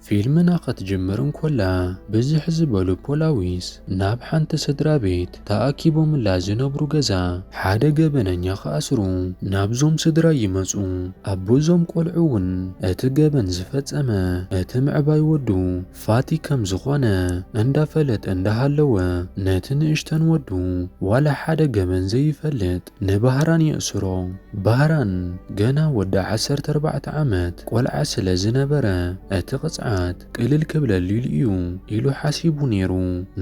ፊልምና ኸትጅምር እንኮላ ብዝሕ ዝበሉ ፖላዊስ ናብ ሓንቲ ስድራ ቤት ተኣኪቦምላ ዝነብሩ ገዛ ሓደ ገበነኛ ክኣስሩ ናብዞም ስድራ ይመጹ። ኣቦ እዞም ቆልዑ እውን እቲ ገበን ዝፈጸመ እቲ ምዕባይ ወዱ ፋቲ ከም ዝኾነ እንዳፈለጠ እንዳሃለወ ነቲ ንእሽተን ወዱ ዋላ ሓደ ገበን ዘይፈልጥ ንባህራን የእስሮ። ባህራን ገና ወዲ ዓሰርተ ኣርባዕተ ዓመት ቆልዓ ስለ ዝነበረ እቲ ቅፅዓት ቅልል ክብለሊሉ እዩ ኢሉ ሓሲቡ ነይሩ።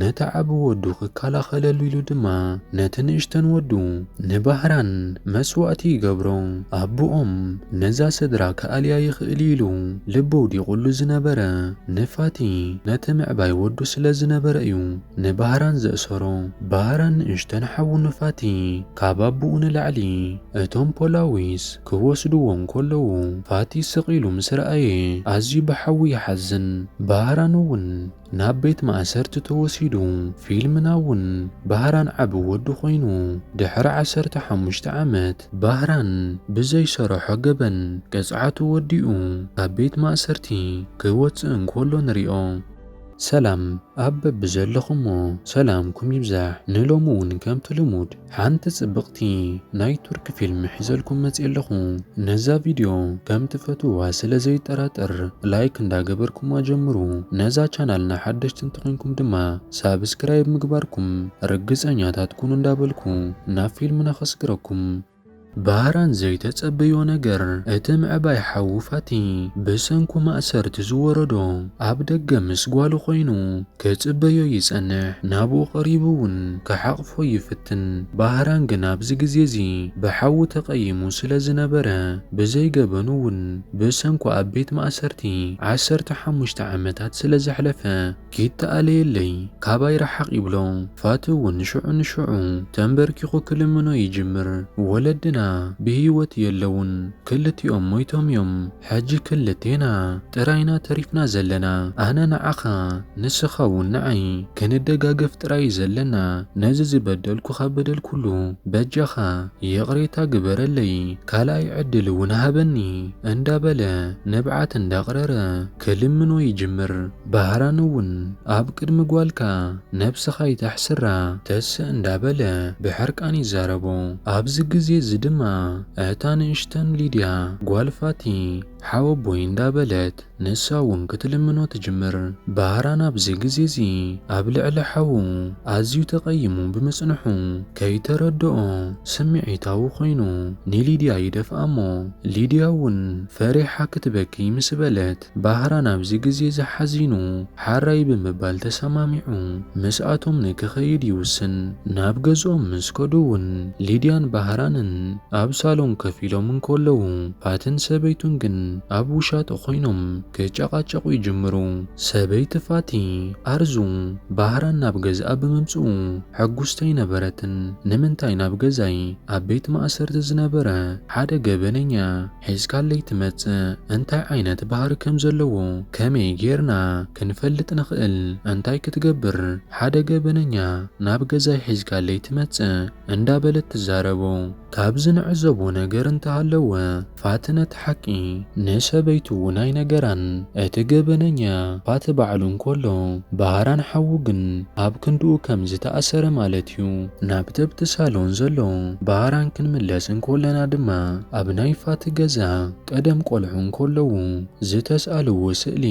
ነቲ ዓቢ ወዱ ክከላኸለሉ ኢሉ ድማ ነቲ ንእሽተን ወዱ ንባህራን መስዋእቲ ይገብሮ። ኣቡኦም ነዛ ስድራ ክኣልያ ይኽእል'ዩ ኢሉ ልቡ ኣውዲቑሉ ዝነበረ ንፋቲ ነቲ ምዕባይ ወዱ ስለ ዝነበረ'ዩ ንባህራን ዘእሰሮ። ባህራን ንእሽተን ሓዉ ንፋቲ ካብ ኣቡኡ ንላዕሊ እቶም ፖላዊስ ክወስድዎ እንከለዉ ፋቲ ስቕ ኢሉ ምስ ረኣየ ኣዝዩ ብሓዉ ይሓዝን። ባህራን'ውን። ናብ ቤት ማእሰርቲ ተወሲዱ ፊልም ናውን ባህራን ዓቢ ወዲ ኮይኑ ድሕሪ ዓሰርተ ሓሙሽተ ዓመት ባህራን ብዘይሰረሖ ገበን ቅጽዓቱ ወዲኡ ካብ ቤት ማእሰርቲ ክወጽእ እንኮሎ ንሪኦ። ሰላም ኣብ በብዘለኹሞ ሰላምኩም ይብዛሕ ንሎሚ ውን ከምቲ ልሙድ ሓንቲ ጽብቅቲ ናይ ቱርኪ ፊልም ሒዘልኩም መጽየ ኣለኹ ነዛ ቪድዮ ከም ትፈትውዋ ስለ ዘይጠራጠር ላይክ እንዳ ገበርኩማ ጀምሩ ነዛ ቻናልና ሓደሽቲ እንተኾይንኩም ድማ ሳብስክራይብ ምግባርኩም ርግጸኛታት ኩኑ እንዳ በልኩ ናብ ፊልምና ከስግረኩም ባራን ዘይተጸበዮ ነገር፣ እቲ ምዕባይ ሓዉ ፋቲ ብሰንኩ ማእሰርቲ ዝወረዶ ኣብ ደገ ምስ ጓሉ ኮይኑ ክጽበዮ ይጸንሕ። ናብኡ ቀሪቡ እውን ክሓቕፎ ይፍትን። ባህራን ግን ኣብዚ ግዜ እዚ ብሓዉ ተቐይሙ ስለ ዝነበረ ብዘይ ገበኑ እውን ብሰንኩ ኣብ ቤት ማእሰርቲ ዓሰርተ ሓሙሽተ ዓመታት ስለ ዘሕለፈ፣ ይተኣለየለይ ካባይ ርሓቕ ይብሎ። ፋቲ እውን ንሽዑ ንሽዑ ተንበርኪኹ ክልምኖ ይጅምር። ወለድና ብህይወት የለዉን፣ ክልቲኦም ሞይቶም እዮም። ሕጂ ክልቴና ጥራይ ኢና ተሪፍና ዘለና፣ ኣነ ንዓኻ ንስኻ እውን ንዓይ። ክንደጋገፍ ጥራይ እዩ ዘለና። ነዚ ዝበደልኩኻ በደል ኩሉ በጃኻ ይቕሬታ ግበረለይ፣ ካልኣይ ዕድል እውን ሃበኒ እንዳበለ ንብዓት እንዳቕረረ፣ ክልምኖ ይጅምር። ባህራን እውን ኣብ ቅድሚ ጓልካ ነብስኻ ኣይተሕስራ ተስእ እንዳበለ ብሕርቃን ይዛረቦ። ኣብዚ ግዜ እዚ ድማ እታ ንእሽተን ሊድያ ጓል ፋቲ ሓወቦይ እንዳበለት ንሳ እውን ክትልምኖ ትጅምር። ባህራን ኣብዚ ግዜ እዚ ኣብ ልዕሊ ሓዉ ኣዝዩ ተቐይሙ ብምጽንሑ ከይተረደኦ ስምዒታዊ ኮይኑ ንሊድያ ይደፍኣ እሞ ሊድያ እውን ፈሪሓ ክትበኪ ምስ በለት፣ ባህራን ኣብዚ ግዜ እዚ ሓዚኑ ሓራይ ብምባል ተሰማሚዑ ምስኣቶም ንክኸይድ ይውስን። ናብ ገዝኦም ምስ ከዱ እውን ሊድያን ባህራንን ኣብ ሳሎን ከፍ ኢሎም እንከለዉ ፋትን ሰበይቱን ግን ኣብ ውሻጠ ኮይኖም ክጨቓጨቑ ይጅምሩ። ሰበይቲ ፋቲ፣ ኣርዙ፣ ባህራን ናብ ገዝኣ ብምምጽኡ ሕጉስቲ ኣይነበረትን። ንምንታይ ናብ ገዛይ ኣብ ቤት ማእሰርቲ ዝነበረ ሓደ ገበነኛ፣ ሒዝካለይ ትመጽእ እንታይ ዓይነት ባህሪ ከም ዘለዎ ከመይ ጌርና ክንፈልጥ ንኽእል እንታይ ክትገብር ሓደ ገበነኛ ናብ ገዛይ ሒዝካለይ ትመጽእ እንዳ በለት ትዛረቦ ካብዚ ንዕዘቦ ነገር እንተ ሃለወ ፋትነ እቲ ሓቂ ንሰበይቱ ውን ኣይነገራን እቲ ገበነኛ ፋቲ ባዕሉ እንኮሎ ባህራን ሓዉ ግን ኣብ ክንድኡ ከም ዝተኣሰረ ማለት ዩ። ናብ ተብቲ ሳሎን ዘሎ ባራን ክንምለስ እንኮለና ድማ ኣብ ናይ ፋቲ ገዛ ቀደም ቆልዑ እንኮለዉ ዝተስኣልዎ ስእሊ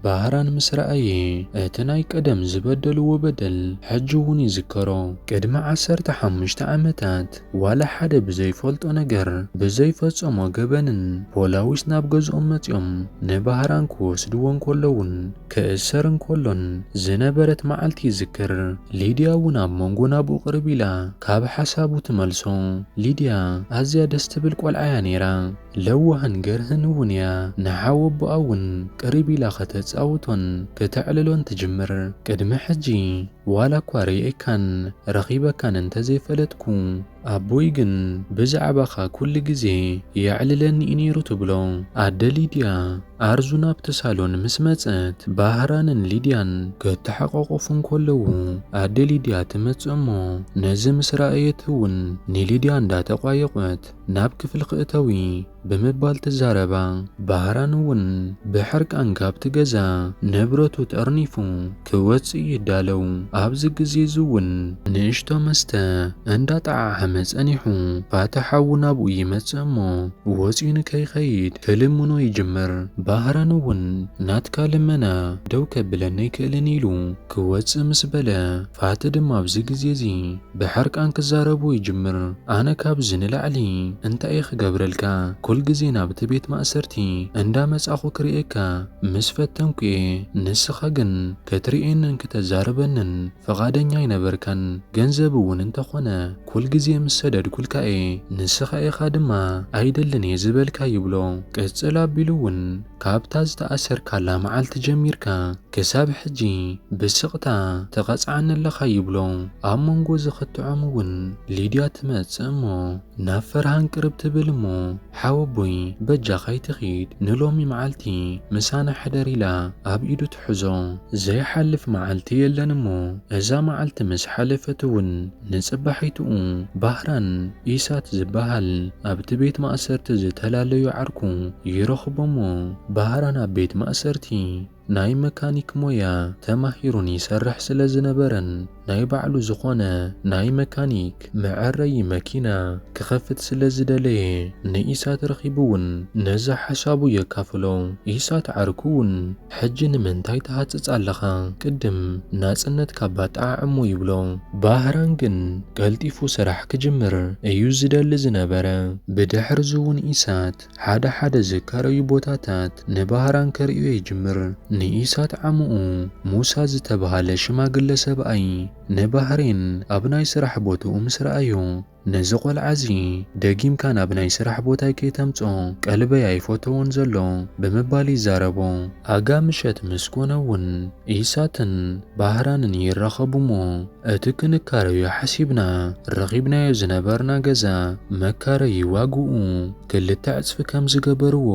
ባራን ምስ ረኣየ እቲ ናይ ቀደም ዝበደልዎ በደል ሕጂ ውን ይዝከሮ። ቅድሚ ዓሰርተ ሓሙሽተ ዓመታት ዋላ ሓደ ብዘይፈልጦ ነገር ብዘይፈጸሞ ገበንን ፖላዊስ ናብ ገዝኦም መጺኦም ንባራን ክወስድዎ እንኮለዉን፣ ክእሰር እንከሎን ዝነበረት መዓልቲ ይዝክር። ሊድያ እውን ኣብ መንጎ ናብኡ ቅርብ ኢላ ካብ ሓሳቡ ትመልሶ። ሊድያ ኣዝያ ደስ ትብል ቆልዓ እያ ነይራ። ለዋህን ገርህን እውን እያ። ንሓወቦኣ እውን ቅርብ ኢላ ከተጻውቶን ክተዕልሎን ትጅምር። ቅድሚ ሕጂ ዋላ እኳ ርእየካን ረኺበካን እንተዘይፈለጥኩ፣ ኣቦይ ግን ብዛዕባኻ ኩሉ ግዜ የዕልለኒ'ዩ ነይሩ ትብሎ ኣደ ሊድያ። ኣርዙ ናብቲ ሳሎን ምስ መጸት ባህራንን ሊድያን ክተሓቋቖፉ እንከለዉ ኣደ ሊድያ ትመጽእ እሞ ነዚ ምስ ረኣየት'ውን ንሊድያ እንዳተቋየቖት ናብ ክፍሊ ክእተዊ ብምባል ትዛረባ። ባህራን እውን ብሕርቃን ካብቲ ገዛ ንብረቱ ጠርኒፉ ክወጽእ ይዳለው። ኣብዚ ግዜ እዚ እውን ንእሽቶ መስተ እንዳጠዓዓመ ጸኒሑ። ፋታ ሓዉ ናብኡ ይመጽእ እሞ ወጽዩ ንከይኸይድ ክልምኖ ይጅምር። ባህራን እውን ናትካ ልመና ደው ከብለኒ ኣይክእልን ኢሉ ክወጽእ ምስ በለ ፋቲ ድማ ኣብዚ ግዜ እዚ። ብሕርቃን ክዛረቡ ይጅምር ኣነ ካብዚ ንላዕሊ እንታይ እየ ክገብረልካ ኩል ግዜ ናብቲ ቤት ማእሰርቲ እንዳ መጻኹ ክርእየካ ምስ ፈተንኩ እየ ንስኻ ግን ክትርእየንን ክተዛርበንን ፍቓደኛ ኣይነበርካን ገንዘብ እውን እንተኾነ ኩል ግዜ ምስ ሰደድኩልካ እየ ንስኻ ኢኻ ድማ ኣይደልን እየ ዝበልካ ይብሎ ቅጽል ኣቢሉ እውን ካብታ ዝተኣሰርካላ መዓልቲ ጀሚርካ ክሳብ ሕጂ ብስቕታ ትቐጽዓኒ ኣለኻ ይብሎ። ኣብ መንጎ እዚ ክትዖም እውን ሊድያ ትመጽእ እሞ ናብ ፈርሃን ቅርብ ትብል እሞ ሓወቦይ በጃኻ ኣይትኺድ ንሎሚ መዓልቲ ምሳና ሕደር ኢላ ኣብ ኢዱ ሕዞ ዘይሓልፍ መዓልቲ የለን እሞ እዛ መዓልቲ ምስ ሓለፈት እውን ንጽባሒትኡ ባህራን ኢሳት ዝበሃል ኣብቲ ቤት ማእሰርቲ ዝተላለዩ ዓርኩ ይረኽቦ'ሞ ባህራን ኣብ ቤት ማእሰርቲ ናይ መካኒክ ሞያ ተማሂሩን ይሰርሕ ስለ ዝነበረን ናይ ባዕሉ ዝኾነ ናይ መካኒክ መዐረዪ መኪና ክኸፍት ስለ ዝደለየ ንኢሳት ረኺቡ'ውን ነዛ ሓሳቡ የካፍሎ። ኢሳት ዓርኩ'ውን ሕጂ ንምንታይ ትሃጽጽ ኣለኻ ቅድም ናጽነትካ ባጠዓዕ'ሞ ይብሎ። ባህራን ግን ቀልጢፉ ስራሕ ክጅምር እዩ ዝደሊ ዝነበረ። ብድሕርዚ'ውን ኢሳት ሓደ ሓደ ዝካረዩ ቦታታት ንባህራን ከርእዮ ይጅምር። ንኢሳት ዓሙኡ ሙሳ ዝተብሃለ ሽማግለ ሰብኣይ ንባህሬን ኣብ ናይ ስራሕ ቦትኡ ምስ ረኣዮ፣ ነዚ ቆልዓ'ዚ ደጊምካ ናብ ናይ ስራሕ ቦታይ ከይተምጽኦ ቀልበይ ኣይፈተዎን ዘሎ ብምባል ይዛረቦ። ኣጋ ምሸት ምስ ኮነ'ውን ኢሳትን ባህራንን ይራኸቡ'ሞ እቲ ክንካረዮ ሓሲብና ረኺብናዮ ዝነበርና ገዛ መካረዪ ዋግኡ ክልተ ዕጽፊ ከም ዝገበርዎ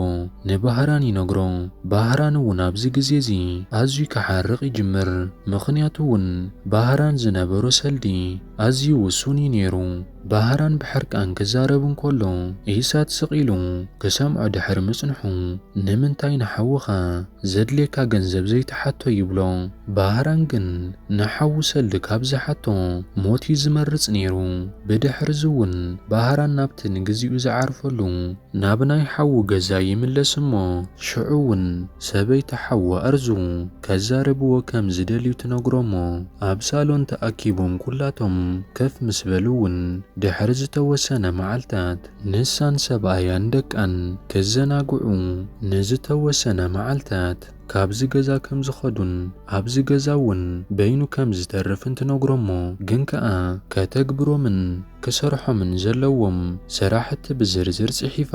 ንባህራን ይነግሮ። ባህራን እውን ኣብዚ ግዜ እዚ ኣዝዩ ክሓርቕ ይጅምር። ምኽንያቱ እውን ባህራን ዝነበሮ ሰልዲ ኣዝዩ ውሱን እዩ ነይሩ። ባህራን ብሕርቃን ክዛረብ እንከሎ ኢሳት ስቕ ኢሉ ክሰምዖ ድሕሪ ምጽንሑ፣ ንምንታይ ንሓውኻ ዘድልየካ ገንዘብ ዘይትሓቶ ይብሎ። ባህራን ግን ንሓዉ ሰልዲ ካብ ዝሓቶ ሞት እዩ ዝመርጽ ነይሩ። ብድሕርዚ'ውን ባህራን ናብቲ ንግዚኡ ዝዓርፈሉ ናብ ናይ ሓዉ ገዛ ይምለስ እሞ ሽዑ'ውን ሰበይቲ ሓዉ ኣርዙ። ከዛርብዎ ከም ዝደልዩ ትነግሮሞ። ኣብ ሳሎን ተኣኪቦም ኩላቶም ከፍ ምስ በሉ'ውን ድሕሪ ዝተወሰነ መዓልታት ንሳን ሰብኣያን ደቃን ክዘናግዑ ንዝተወሰነ መዓልታት ካብዚ ገዛ ከም ዝኸዱን ኣብዚ ገዛ'ውን በይኑ ከም ዝተርፍን ትነግሮሞ ግን ከኣ ከተግብሮምን ክሰርሖምን ዘለዎም ስራሕቲ ብዝርዝር ጽሒፋ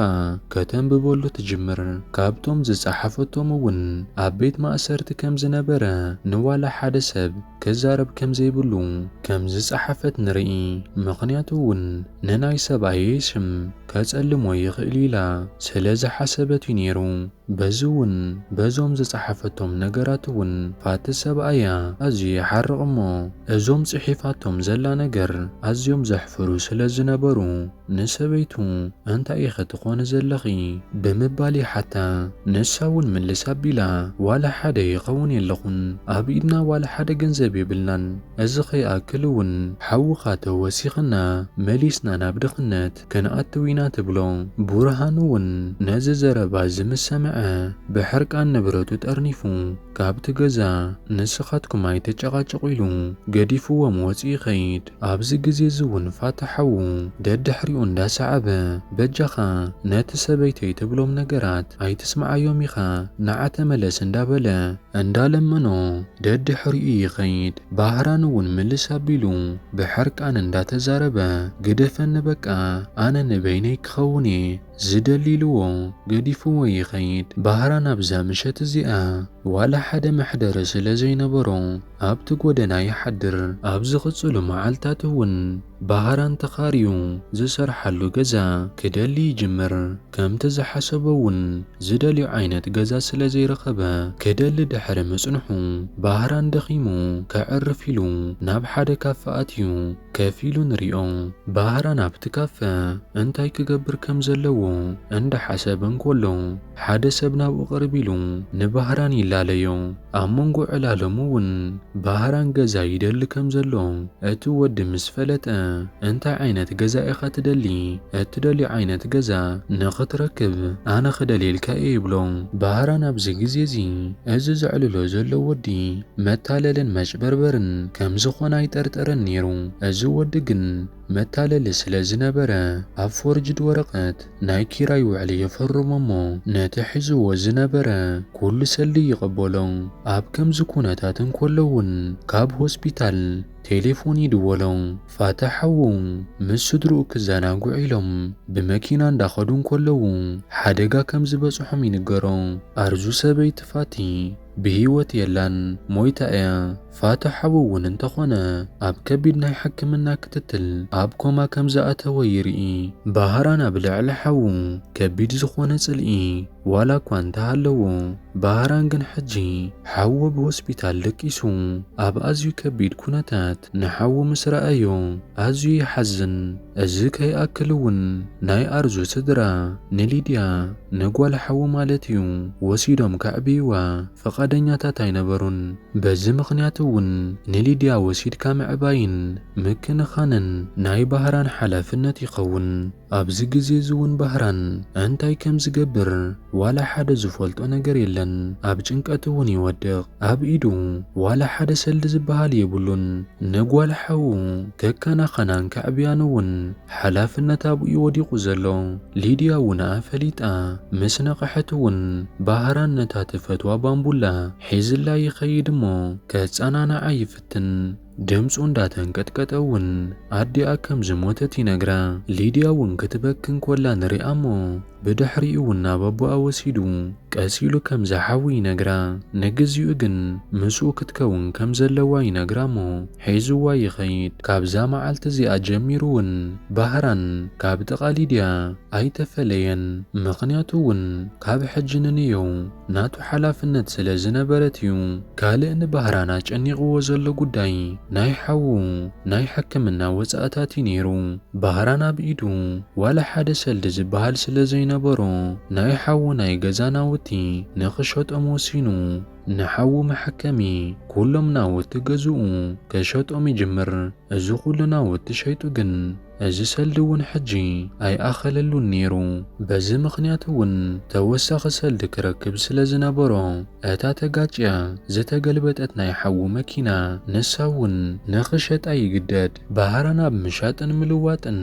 ከተንብበሉ ትጅምር። ካብቶም ዝጸሓፈቶም እውን ኣብ ቤት ማእሰርቲ ከም ዝነበረ ንዋላ ሓደ ሰብ ክዛረብ ከም ዘይብሉ ከም ዝጸሓፈት ንርኢ። ምኽንያቱ እውን ንናይ ሰብኣየይ ስም ከጸልሞ ይኽእል'ዩ ኢላ ስለ ዝሓሰበት እዩ ነይሩ። በዚ ውን በዞም ዝጸሓፈቶም ነገራት ውን ፋቲ ሰብኣያ ኣዝዩ ይሓርቕ እሞ እዞም ጽሒፋቶም ዘላ ነገር ኣዝዮም ዘሕፍሩ ስለ ዝነበሩ ንሰበይቱ እንታይ ኢኺ ትኾኒ ዘለኺ ብምባል ይሓታ ንሳ ውን ምልስ ኣቢላ ዋላ ሓደ ይኸውን የለኹን ኣብ ኢድና ዋላ ሓደ ገንዘብ የብልናን እዚ ከይኣክል ውን ሓውኻ ተወሲኽና መሊስና ናብ ድኽነት ክንኣትው ኢና ትብሎ። ቡርሃኑ እውን ነዚ ዘረባ እዚ ምስ ሰምዐ ብሕርቃን ንብረቱ ጠርኒፉ ካብቲ ገዛ ንስኻትኩም ኣይትጨቓጨቑ ኢሉ ገዲፍዎም ወፂኡ ይኸይድ። ኣብዚ ግዜ እዚ እውን ፋታ ሓዉ ደድሕሪኡ እንዳሰዓበ በጃኻ ነቲ ሰበይተይ ትብሎም ነገራት ኣይትስምዓዮም ኢኻ ንዓ ተመለስ እንዳበለ እንዳለመኖ ደድሕሪኡ ይኸይድ። ባህራን እውን ምልስ ኣቢሉ ብሕርቃን እንዳተዛረበ ግደፈኒ በቃ ኣነ ንበይነይ ክኸውን እየ ዝደሊ ኢልዎ ገዲፍዎ ይኸይድ። ባህራን ኣብዛ ምሸት እዚኣ ዋላ ሓደ መሕደሪ ስለዘይነበሮ ኣብቲ ጎደና ይሓድር። ኣብ ዝቕፅሉ መዓልታት እውን። ብሃራን ተኻርዩ ዝሰርሓሉ ገዛ ክደሊ ይጅምር። ከምቲ ዝሓሰቦ'ውን ዝደልዮ ዓይነት ገዛ ስለ ዘይረኸበ ክደሊ ድሕሪ ምጽንሑ ብሃራን ደኺሙ ከዕርፍ ኢሉ ናብ ሓደ ካፈ ኣትዩ ከፍ ኢሉ ንሪኦ። ብሃራን ኣብቲ ካፈ እንታይ ክገብር ከም ዘለዎ እንዳሓሰበ እንኮሎ፣ ሓደ ሰብ ናብኡ ቅርብ ኢሉ ንባህራን ይላለዮ። ኣብ መንጎ ዕላሎሙ እውን ባህራን ገዛ ይደሊ ከም ዘሎ እቲ ወዲ ምስ ፈለጠ፣ እንታይ ዓይነት ገዛ ኢኻ ትደሊ? እትደልዮ ዓይነት ገዛ ንኽትረክብ ኣነ ክደልየልካ እየ ይብሎ። ባህራን ኣብዚ ግዜ እዚ እዚ ዘዕልሎ ዘሎ ወዲ መታለልን መጭበርበርን ከም ዝኾነ ኣይጠርጠረን ነይሩ። እዚ ወዲ ግን መታለሊ ስለ ዝነበረ ኣብ ፎርጅድ ወረቐት፣ ናይ ኪራይ ውዕሊ ይፍርሙ እሞ ነቲ ሒዝዎ ዝነበረ ኩሉ ሰልዲ ይቐበሎ። ኣብ ከምዚ ኩነታት እንከሎ እውን ካብ ሆስፒታል ቴሌፎን ይድወሎ። ፋታ ሓዉ ምስ ስድርኡ ክዘናግዑ ኢሎም ብመኪና እንዳኸዱ እንከለዉ ሓደጋ ከም ዝበጽሖም ይንገሮ። ኣርዙ ሰበይቲ ፋቲ ብህይወት የላን ሞይታ እያ። ፋቱሕ ሓው'ውን እንተኾነ ኣብ ከቢድ ናይ ሕክምና ክትትል ኣብ ኮማ ከም ዝኣተወ ይርኢ። ባህራን ኣብ ልዕሊ ሓዉ ከቢድ ዝኾነ ጽልኢ ዋላ እኳ እንተሃለዎ፣ ባህራን ግን ሕጂ ሓዉ ኣብ ሆስፒታል ደቂሱ ኣብ ኣዝዩ ከቢድ ኩነታት ንሓዉ ምስ ረኣዮ ኣዝዩ ይሓዝን። እዚ ከይኣክል'ውን ናይ ኣርዙ ስድራ ንሊድያ፣ ንጓል ሓዉ ማለት'ዩ፣ ወሲዶም ከዕብይዋ፣ ፈቓደኛታት ኣይነበሩን። በዚ ምኽንያት እውን ንሊድያ ወሲድካ ምዕባይን ምክንኻንን ናይ ባህራን ሓላፍነት ይኸውን። ኣብዚ ግዜ እዚ እውን ባህራን እንታይ ከም ዝገብር ዋላ ሓደ ዝፈልጦ ነገር የለን። ኣብ ጭንቀት እውን ይወድቕ። ኣብ ኢዱ ዋላ ሓደ ሰልዲ ዝበሃል የብሉን። ንጓል ሓዉ ከከናኸናን ከዕብያን እውን ሓላፍነት ኣብኡ ዩ ወዲቁ ዘሎ ሊድያ ውን እኣ ፈሊጣ ምስ ነቀሐት ውን ባህራን ነታ ትፈትዋ ባንቡላ ሒዝላ ይከይድ እሞ ከጸናንዓ ይፍትን ድምጹ እንዳ ተንቀጥቀጠ ውን ኣዲኣ ከም ዝሞተት ይነግራ ሊድያ ውን ክትበኪ እንኮላ ንሪኣ እሞ ብድሕሪኡ ውን ናብ ኣቦኣ ወሲዱ ቀስ ኢሉ ከም ዝሓዊ ይነግራ ንግዚኡ ግን ምስኡ ክትከውን ከም ዘለዋ ይነግራ እሞ ሒዝዋ ይኸይድ ካብዛ መዓልቲ እዚኣ ጀሚሩ ውን ባህራን ካብ ጥቓ ሊድያ ኣይተፈለየን ምኽንያቱ ውን ካብ ሕጂ ንንየው ናቱ ሓላፍነት ስለ ዝነበረት እዩ። ካልእ ንባህራን ኣጨኒቕዎ ዘሎ ጉዳይ ናይ ሓዉ ናይ ሕክምና ወጻእታት እዩ ነይሩ። ባህራን ኣብ ኢዱ ዋላ ሓደ ሰልዲ ዝበሃል ስለ ዘይነበሮ፣ ናይ ሓዉ ናይ ገዛ ናውቲ ንኽሸጦም ወሲኑ። ንሓዉ መሐከሚ ኩሎም ናውቲ ገዝኡ ከሸጦም ይጅምር። እዚ ኩሉ ናውቲ ሸይጡ ግን፣ እዚ ሰልዲ እውን ሕጂ ኣይኣኸለሉን ነይሩ፣ በዚ ምኽንያት እውን ተወሳኺ ሰልዲ ክረክብ ስለ ዝነበሮ፣ እታ ተጋጭያ ዝተገልበጠት ናይ ሓዉ መኪና ንሳ እውን ንኽሸጣ ይግደድ። ባህራን ኣብ ምሻጥን ምልዋጥን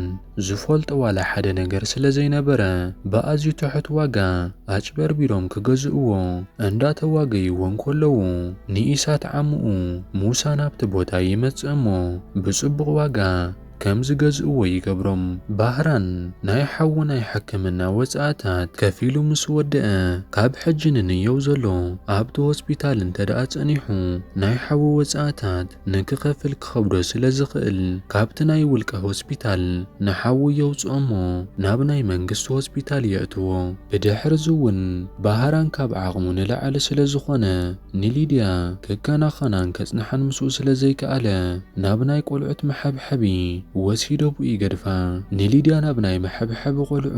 ዝፈልጦ ዋላ ሓደ ነገር ስለ ዘይነበረ፣ ብኣዝዩ ትሑት ዋጋ ኣጭበርቢሮም ክገዝእዎ እንዳተዋገይዎ እንከለዉ፣ ንኢሳት ዓምኡ ሙሳ ናብቲ ቦታ ይመጽእ እሞ ብጽቡቕ ዋጋ፣ ከም ዝገዝእዎ ይገብሮም። ባህራን ናይ ሓዉ ናይ ሕክምና ወጻእታት ከፊሉ ምስ ወደኣ፣ ካብ ሕጂ ንንየው ዘሎ ኣብቲ ሆስፒታል እንተድኣ ጸኒሑ ናይ ሓዉ ወጻእታት ንክኸፍል ክኸብዶ ስለ ዝኽእል ካብቲ ናይ ውልቀ ሆስፒታል ንሓዉ የውጽኦ'ሞ ናብ ናይ መንግስቲ ሆስፒታል የእትዎ። ብድሕርዚ'ውን ባህራን ካብ ዓቕሙ ንላዕሊ ስለ ዝኾነ፣ ንሊድያ ከከናኸናን ከጽንሓን ምስኡ ስለ ዘይከኣለ፣ ናብ ናይ ቆልዑት መሐብሐቢ ወሲደቡ ይገድፋ። ንሊድያ ናብ ናይ መሐብሐቢ ቆልዑ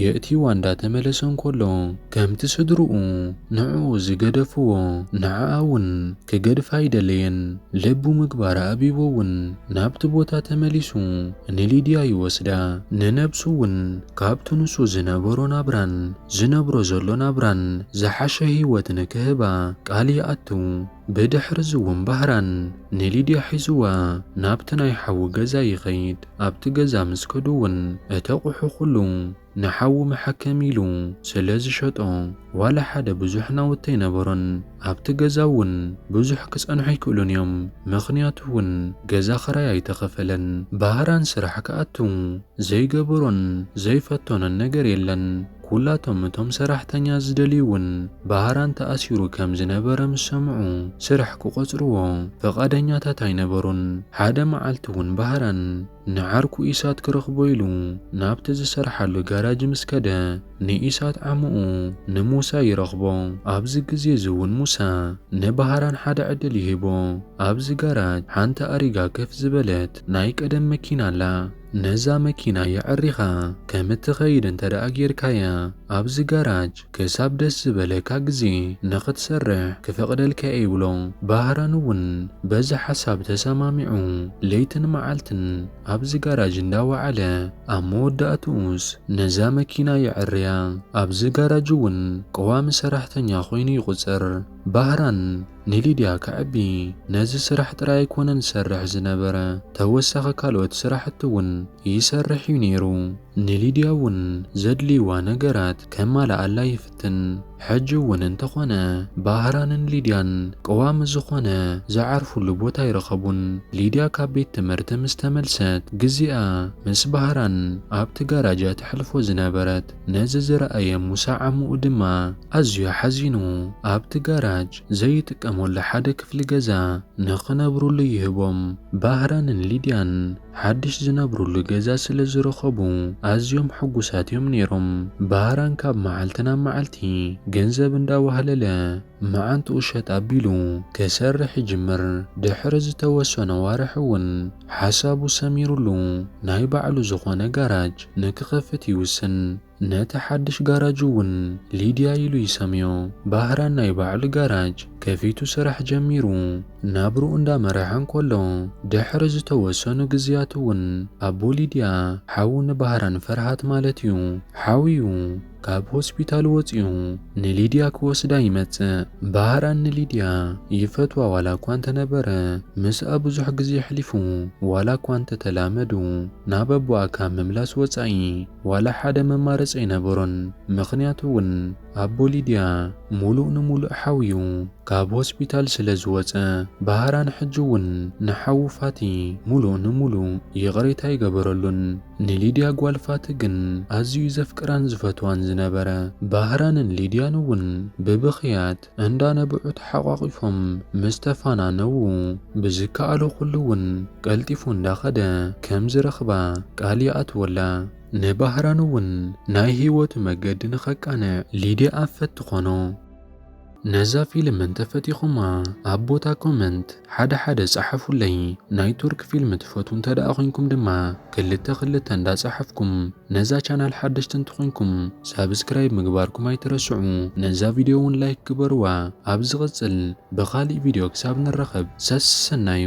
የእትይዋ እንዳ ተመለሰ እንከሎ፣ ከምቲ ስድርኡ ንዕኡ ዝገደፍዎ ንዓኣ ውን ክገድፋ ኣይደለየን። ልቡ ምግባር ኣእቢዎ ውን ናብቲ ቦታ ተመሊሱ ንሊድያ ይወስዳ። ንነብሱ ውን ካብቲ ንሱ ዝነበሮ ናብራን ዝነብሮ ዘሎ ናብራን ዝሓሸ ህይወትን ክህባ ቃል ይኣቱ። ብድሕርዚ'ውን ባህራን ንሊድያ ሒዙዋ ናብቲ ናይ ሓዉ ገዛ ይኸይድ። ኣብቲ ገዛ ምስ ከዱ'ውን እቲ ኣቑሑ ኩሉ ንሓዉ መሐከሚ ኢሉ ስለ ዝሸጦ ዋላ ሓደ ብዙሕ ናውቲ ኣይነበሮን። ኣብቲ ገዛ እውን ብዙሕ ክጸንሑ ኣይክእሉን እዮም ምኽንያቱ እውን ገዛ ክራይ ኣይተኸፈለን ባህራን ስራሕ ክኣቱ ዘይገበሮን ዘይፈተኖን ነገር የለን ኩላቶም እቶም ሰራሕተኛ ዝደልዩ እውን ባህራን ተኣሲሩ ከም ዝነበረ ምስ ሰምዑ ስራሕ ክቖጽርዎ ፍቓደኛታት ኣይነበሩን ሓደ መዓልቲ እውን ባህራን ንዓርኩ ኢሳት ክረኽቦ ኢሉ ናብቲ ዝሰርሓሉ ጋራጅ ምስ ከደ ንኢሳት ዓምኡ ንሙሳ ይረኽቦ። ኣብዚ ግዜ እዚ እውን ሙሳ ንባህራን ሓደ ዕድል ይህቦ። ኣብዚ ጋራጅ ሓንቲ ኣሪጋ ከፍ ዝበለት ናይ ቀደም መኪና ኣላ። ነዛ መኪና የዐሪኻ ከም እትኸይድ እንተድኣ ጌርካያ ኣብዚ ጋራጅ ክሳብ ደስ ዝበለካ ግዜ ንኽትሰርሕ ክፈቕደልካ እየ ይብሎ። ባህራን እውን በዚ ሓሳብ ተሰማሚዑ ለይትን መዓልትን ኣብዚ ጋራጅ እንዳወዓለ ኣብ መወዳእትኡስ ነዛ መኪና የዐርያ። ኣብዚ ጋራጅ እውን ቀዋሚ ሰራሕተኛ ኮይኑ ይቑጸር። ባህራን ንሊድያ ከዕቢ ነዚ ስራሕ ጥራይ ኣይኮነን ዝሰርሕ ዝነበረ፣ ተወሳኺ ካልኦት ስራሕቲ እውን ይሰርሕ እዩ ነይሩ። ንሊድያ እውን ዘድልይዋ ነገራት ከማልኣላ ይፍትን። ትን ሕጂ እውን እንተኾነ ባህራንን ሊድያን ቀዋሚ ዝኾነ ዝዓርፉሉ ቦታ ኣይረኸቡን። ሊድያ ካብ ቤት ትምህርቲ ምስ ተመልሰት ግዜኣ ምስ ባህራን ኣብቲ ጋራጅ እያ ተሕልፎ ዝነበረት። ነዚ ዝረኣየ ሙሳ ዓሙኡ ድማ ኣዝዩ ሓዚኑ ኣብቲ ጋራጅ ዘይጥቀመሉ ሓደ ክፍሊ ገዛ ንኽነብሩሉ ይህቦም። ባህራንን ሊድያን ሓድሽ ዝነብሩሉ ገዛ ስለ ዝረኸቡ ኣዝዮም ሕጉሳት እዮም ነይሮም። ባህራን ካብ መዓልቲ ናብ መዓልቲ ገንዘብ እንዳዋህለለ መዓንጥኡ ሸጥ ኣቢሉ ክሰርሕ ይጅምር። ድሕሪ ዝተወሰኑ ኣዋርሕ እውን ሓሳቡ ሰሚሩሉ ናይ ባዕሉ ዝኾነ ጋራጅ ንክኸፍት ይውስን። ነቲ ሓድሽ ጋራጅ እውን ሊድያ ኢሉ ይሰምዮ። ባህራን ናይ ባዕሉ ጋራጅ ከፊቱ ስራሕ ጀሚሩ ናብርኡ እንዳመረሐ እንከሎ ድሕሪ ዝተወሰኑ ግዝያት እውን ኣቦ ሊድያ ሓው ንባህራን ፍርሃት ማለት እዩ ሓውዩ ካብ ሆስፒታል ወፅዩ ንሊድያ ክወስዳ ይመፅእ። ባህራን ንሊድያ ይፈትዋ ዋላ እኳ እንተነበረ ምስኣ ብዙሕ ግዜ ኣሕሊፉ ዋላ እኳ እንተተላመዱ ናብ ኣቦኣ ካብ ምምላስ ወፃኢ። ዋላ ሓደ መማረፂ ኣይነበሮን ምኽንያቱ እውን ኣቦ ሊድያ ሙሉእ ንሙሉእ ሓውዩ ካብ ሆስፒታል ስለ ዝወፀ ባህራን ሕጂ እውን ንሓዉ ፋቲ ሙሉእ ንሙሉእ ይቕሬታ ኣይገበረሉን ንሊድያ ጓል ፋቲ ግን ኣዝዩ ዘፍቅራን ዝፈትዋን ዝነበረ ባህራንን ሊድያን እውን ብብኽያት እንዳ ነብዑ ተሓቋቒፎም ምስ ተፋናነዉ ብዝከኣሎ ኩሉ ውን ቀልጢፉ እንዳ ከደ ከም ዝረኽባ ቃል ይኣትወላ። ንባህራን ውን ናይ ሂወቱ መገዲ ንኸቃንዕ ሊድያ ኣፈት ትኾኖ። ነዛ ፊልም እንተፈቲኹማ ኣብ ቦታ ኮመንት ሓደ ሓደ ጸሓፉለይ ናይ ቱርክ ፊልም ትፈትዉ እንተ ደኣ ኮንኩም ድማ ክልተ ክልተ እንዳ ጸሓፍኩም ነዛ ቻናል ሓደሽቲ እንተ ኮንኩም ሳብስክራይብ ምግባርኩም ኣይትረስዑ ነዛ ቪድዮ ውን ላይክ ግበርዋ ኣብ ዝቅጽል ብካሊእ ቪድዮ ክሳብ ንራከብ ሰሰናዩ።